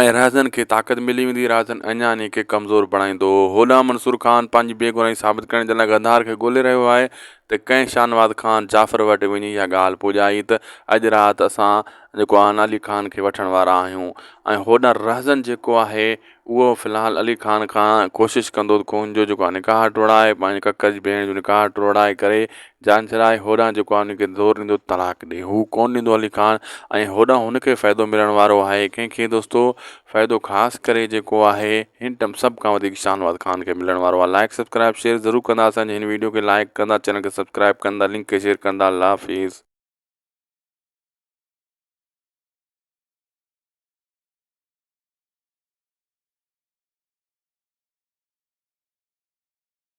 ۽ رهزن کي طاقت ملي ويندي، رهزن اڃا انهيء کي ڪمزور بڻائيندو. هوڏانهن منصور خان پنهنجي بيگناهي ثابت ڪرڻ جي لاء غدار کي ڳولي رهيو آهي ته ڪنهن شاهنواز خان جعفر وٽ وڃي اها ڳالهه پڄائي ته اڄ رات اسان جيڪو آهن علي خان کي وٺڻ وارا آهيون ۽ هوڏانهن رهزن جيڪو آهي اهو في الحال علي خان کان ڪوشش ڪندو ته هن جو جيڪو آهي نڪاح ٽوڙائي پنهنجي ڪڪر جي ڀيڻ جو نڪاح ٽوڙائي ڪري جانشھرائي ھوڏانھن جيڪو آھي ان کي زور ڏيندو طلاق ڏي ھو ڪونھ ڏيندو علي خان ۽ ھوڏانھن ھن کي فائدو ملڻ وارو آھي ڪنھن کي دوستو فائدو خاص ڪري جيڪو آھي ھن ٽم سڀ کان وڌيڪ شاھنواز خان کي ملڻ وارو آھي لائيڪ سبسڪرائيب شيئر ضرور ڪندا اسان جي ھن ويڊيو کي لائيڪ ڪندا چينل کي سبسڪرائيب ڪندا لنڪ کي شيئر ڪندا الله حافظ.